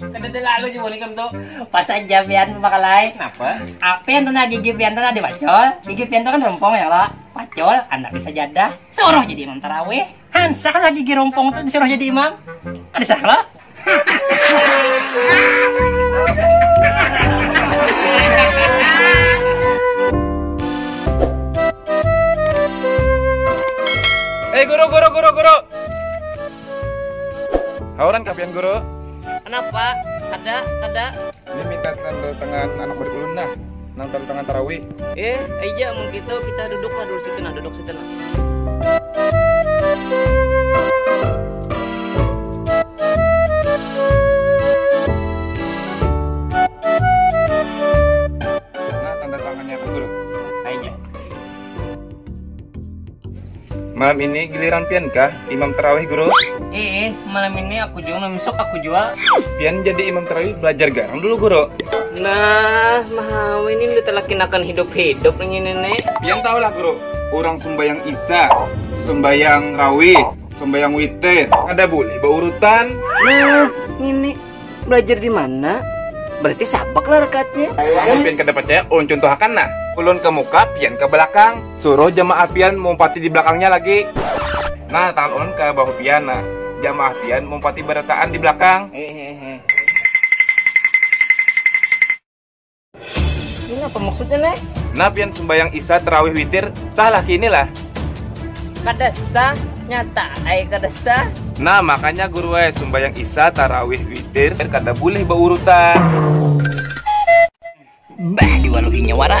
Kadada lalu jua nih kam tu. Pas aja pian bakalai. Kenapa? Apian tu nah gigi pian tu nah dipacul. Gigi pian tu kan rumpung ya kalo. Pacul, andaknya sajadah. Suruh jadi imam tarawih. Hansah lah gigi rumpung tu disuruh jadi imam. Kada sah kalo? Hei guru guru guru guru. Hauran kah pian guru? Kenapa? Kada, kada. Ini minta tanda tangan anak murid ulun nah, nang tanda tangan tarawih. Eh, ai ja mun kitu, kita duduk lah dulu situ nah, duduk situ nah. Nah tanda tangannya kah guru? Ai ja. malam ini giliran pian kah imam terawih guru iih malam ini aku jua malam esok aku jua pian jadi imam terawih belajar garang dulu guru nah mau ini udah telakinakan hidup hidup ini nenek pian tahu lah guru orang sembayang isya sembayang rawih sembayang witir ada boleh baurutan nah ini belajar di mana berarti sabak lah rekatnya amun pian kada percaya ulun cuntuhakan nah ulun ke muka pian ke belakang suruh jamaah pian meumpati di belakangnya lagi nah tangan ulun ke bahu pian nah jamaah pian meumpati berataan di belakang. Ini apa maksudnya nek? Nah pian sembayang isya terawih witir sah lah kini lah. Kada sah, nyata ai kada sah. Nah makanya guru ai sembayang isya tarawih witir kada bulih baurutan. Bah diwaluhinya wara.